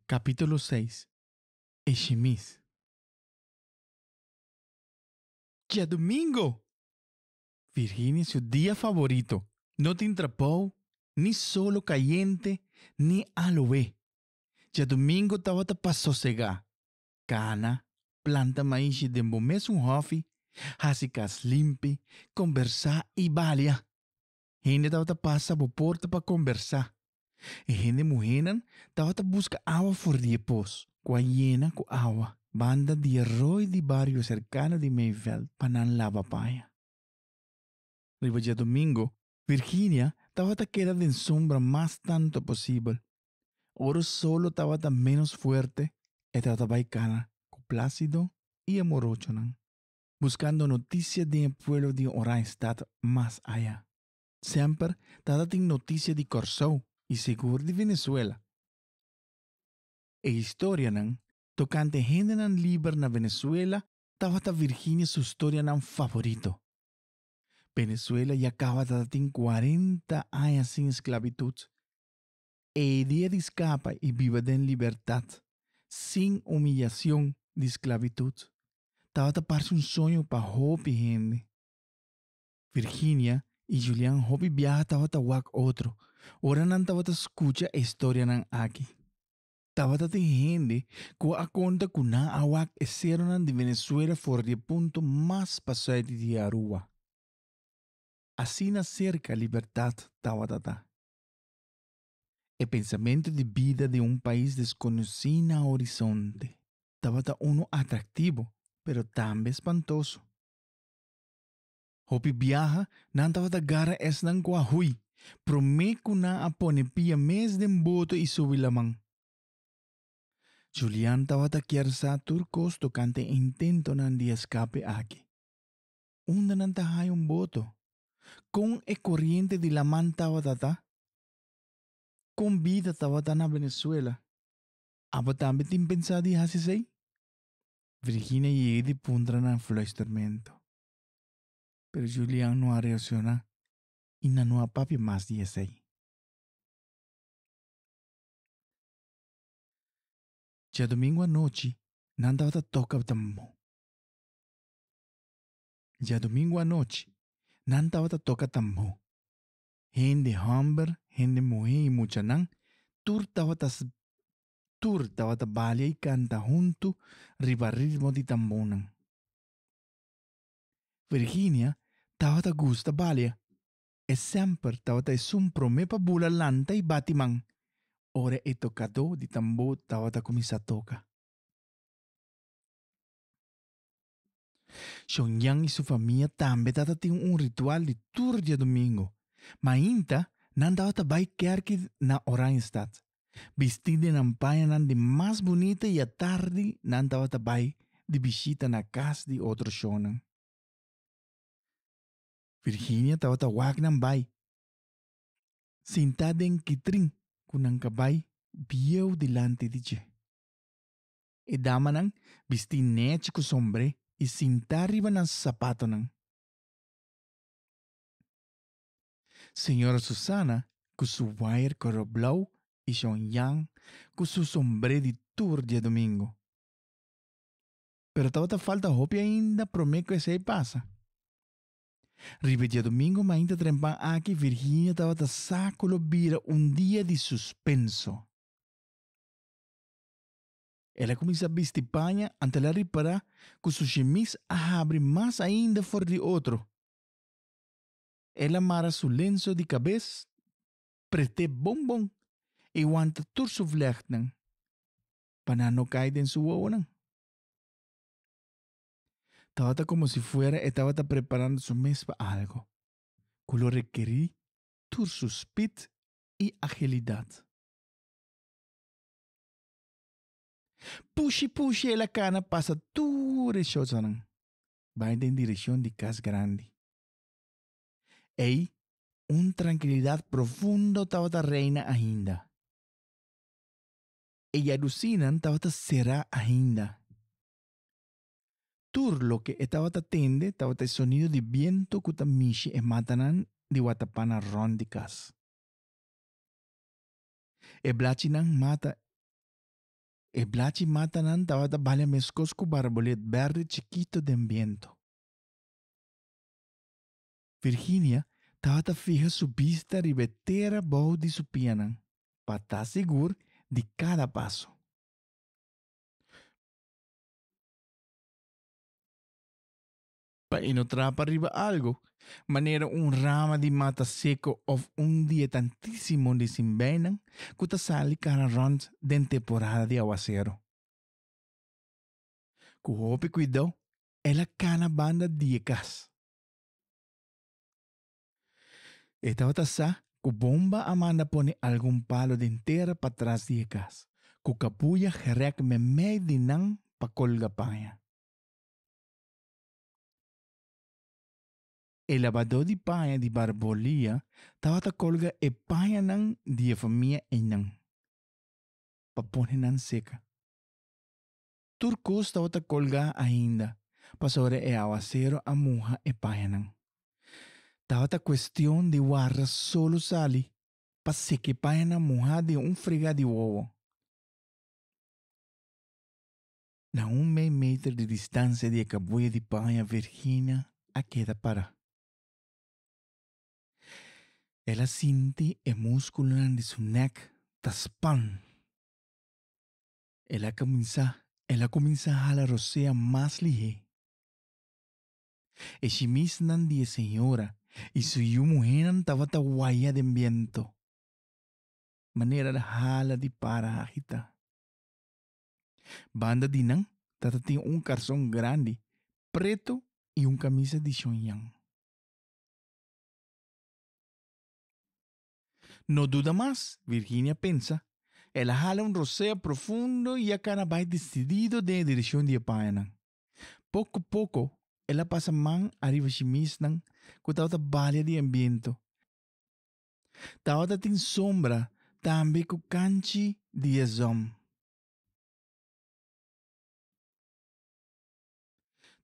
capítulo seis e shimis. Diadomingo! Virginia su dia favorito. No tin trabou, ni solo cayente, ni aloe. Diadomingo tabata pa sosegá. Cana, planta maishi den bo mesun hofi, haci cas limpi, combersá i balia. Hende tabata pasa bo porta pa kombersá. E hende muhénan tabata buska awa for di e pos, ku a yena ku awa, banda di e roi di bario serkano di Meyveld pa nan laba paña. Riba diadomingo, Virginia tabata keda den sombra mas tantu posibel. Ora solo tabata ménos fuerte, e tabata bai kana ku Plácido i e morochonan. Buscando noticia den e pueblo di Oranjestad mas aya. Semper tata tin noticia di Corsou y segur di Venezuela. E historianan tocante hendenan liber na Venezuela tabata Virginia su storianan favorito. Venezuela ya caba tata tin cuarenta aya sin esclavitud. E idea di skapa i biba den libertat sin umillacion di sklavitut tabata parse un soño pa hopi hende. Virginia i Julian hopi biaha tabata wak otro ora nan tabata skucha e storianan aki. Tabata tin hende ku a konta ku nan a wak e seronan di Venezuela for di e punto mas pa suiti di Aruba. Asina serka libertat tabata ta. E pensamentu di bida di un pais deskonosí na horisonte tabata unu atraktibu pero tambe spantosu. Hopi biaha nan tabata gara esnan ku a hui promé ku nan a pone pia mes den boto i subi laman. Julian tabata kier sa tur kos tokante e intentonan di eskape aki. unda nan ta haña un boto? Kon e koriente di laman tabata ta? Kon bida tabata na Venezuela? Abo tambe tin pensá di hasi esei? Virginia yega di puntra na fluistermento. Pero Julian no a reaksioná i nan no a papia mas di esei. Diadomingu anochi nan tabata toka tambó. Djadumingu anochi, nan tabata toka tambó. Hende hòmber, hende muhé i muchanan, tur tabata tur tabata balia i kanta huntu riba ritmo di tambónan. Virginia tabata gusta balia. E semper tabata esun promé pa bula lanta i bati man ora e tokadó di tambó tabata kuminsá toka. Shonyan i su famia tambe tabatin un ritual di tur diadumingu. Mainta nan tabata bai kèrki na Oranjestad, bistí den nan pañanan di mas bunita i atardi nan tabata bai di bishita na kas di otro shonnan. Virginia tabata wak nan bai sintá den kitrin ku nan ka bai bieu dilanti di dje. E damanan bistí nechi ku sombré i sintá riba nan sapatonan. Señora Susana ku su wayer kolo blou i shon Jan ku su sombré di tur diadomingu. Pero tabata falta hopi ainda promé ku esei pasa. Riba e diadomingu mainta trempan aki Virginia tabata sa ku lo bira un dia di suspenso. El a kuminsá bisti paña anta el a ripará ku su xemis a habri mas ainda for di otro. El a mara su lenso di kabes, pret'é bon bon i wanta tur su vlègnan pa nan no kai den su wowonan. Tabata komo si fuera e tabata preparando su mes pa algu ku lo rekerí tur su spit i agilidat. Pushi pushi el a kana pasa tur e shortsanan bai den direkshon di kas grandi. Ei un trankilidat profundo tabata reina ainda. E yadusinan tabata será ainda. Tur loke e tabata tende tabata e sonido di bientu ku ta mishi e matanan di watapana rònt di kas. E blachinan mata e blachi matanan tabata bale meskos ku barbolet bèrdè chikito den biento. Virginia tabata fiha su bista riba e tera bou di su pianan pa ta sigur di kada paso. pa e no trapa riba algu, manera un rama di mata seco of un di e tantisimo di sin bijnan cu ta sali cara rond den temporada di aguacero. Cu hopi cuidou, el a cana banda di e cas. E tabata sa cu Bomba a manda pone algun palo den tera patras di e cas, cu capuya grek memey di nan pa colga paña. E labadó di paña di Barbolia tabata kolga e pañanan di e famia einan pa pone nan seka. Tur kos tabata kolgá ainda pasobra e awasero a muha e pañanan. Tabata kuestion di warda solo sali pa seka e pañanan muhá den un fregá di wowo. Na un mei meter di distansia di e kabuya di paña Virginia a keda pará. El a sinti e múskulonan di su nèk ta span. El a kuminsá el a kuminsá hala Rosea mas lihé. E shimisnan di e señora i su yu muhénan tabata waya den bientu. Manera el a hala di para agitá. Banda di nan tata tin un karson grandi preto i un kamisa di shonyan. No duda mas, Virginia pensa. El a hala un rosea profundo i a kana bai desidido den e direkshon di e payanan. Poko poko el a pasa man ariba shimishnan ku tabata balia di e biento. Tabata tin sombra tambe ku kanchi di e zon.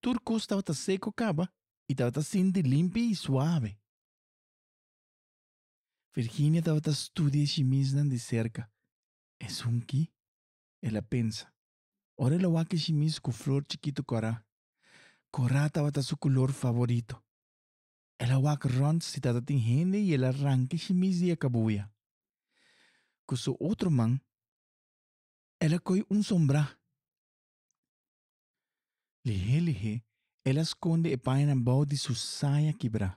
Tur kos tabata seko kaba i tabata sinti limpi i suave. Virginia tabata studia e shimisnan di serka. Esun ki? el a pensa. Ora el a wak e shimis ku flor chikitu korá. Korá tabata su kulor favorito. El a wak rònt si tata tin hende i el a ranke shimis di e kabuya. Ku su otro man, el a koi un sombrá. Lihé lihé el a skonde e páyana bou di su saya kibrá.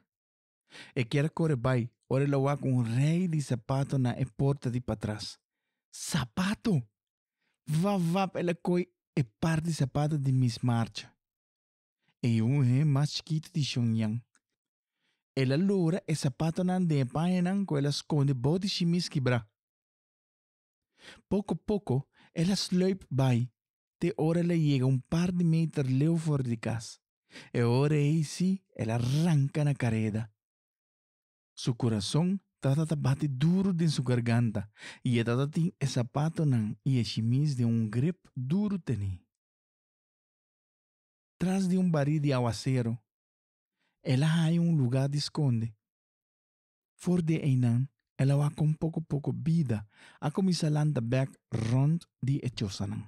E kier a kore bai, ora el a wak un rei di sapato na e porta di patras. Sapato! Vap vap el a koi e par di sapato di mis marcha. e yunhe mas chikito di Xiongnian. El a logra e sapatonan den e pañanan ku el a skonde bou di shi mis kibrá. Poko poko el a slùip bai te ora el a yega un par di meter leu for di kas. E ora ei sí el a ranka na kareda. Su kurason tabata ta bati duru den su garganta i e tabata tin e sapatonan i e shimis den un grep duru tene. tras di un barí di awasero. El a haña un lugá di skonde. For di einan, el a wak kon poko poko bida a kuminsá lanta bèk rònt di e chosanan.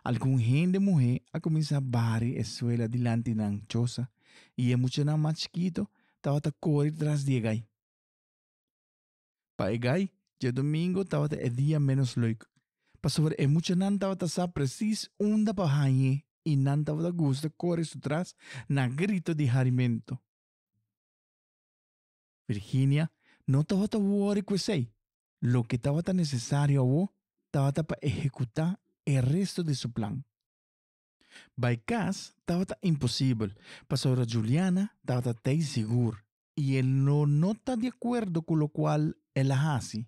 Algun hende muhé a kuminsá bari e suela dilanti nan chosa i e muchanan mas chikito tabata kori tras di e gai. Pa e gai, djadomingo tabata e dia ménos leuk, pasobra e muchanan tabata sa presís unda pa hañ'é i nan tabata gusta kore su tras na grito di harimentu. Virginia no tabata wòri ku esei. Loke tabata nesesario awó tabata pa ehekutá e restu di su plan. Bai kas tabata imposibel, pasobra Juliana tabata t'ei sigur i el lo no ta di akuerdo ku lokual el a hasi,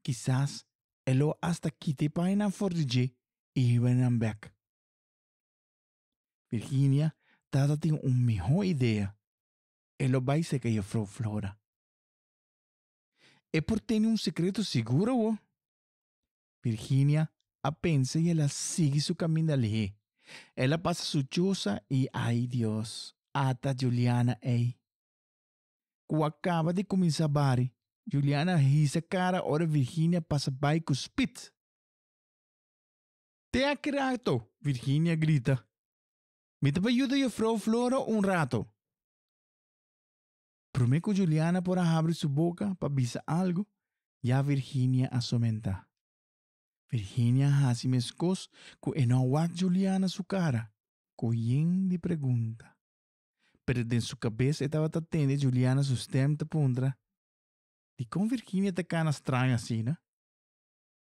kisas el lo asta kita e paainan for di dje i hiba e nan bèk. Virginia tabata tin un mihó idea, el lo bai serka Jefrouw Flora. E por tene un sekreto sigur awor? Virginia a pensa i el a sigui su kaminda lihé. El a pasa su chosa i ai Dios, ata Juliana ei. Ku a kaba di kuminsá bari, Juliana a hisa kara ora Virginia pasa bai ku spit. Te aki rato, Virginia grita. Mi ta pa yuda Jufrou Flora un rato. Promé ku Juliana por a habri su boka pa bisa algu, ya Virginia a somentá. Virginia a hasi meskos ku e no a wak Juliana su kara ku yin di pregunta. Pero den su kabes e tabata tende Juliana su stèm ta puntra, Dikon Virginia ta kana straño asina?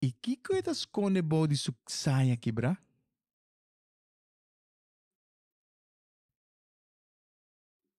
I kiko e ta skonde bou di su saya kibrá?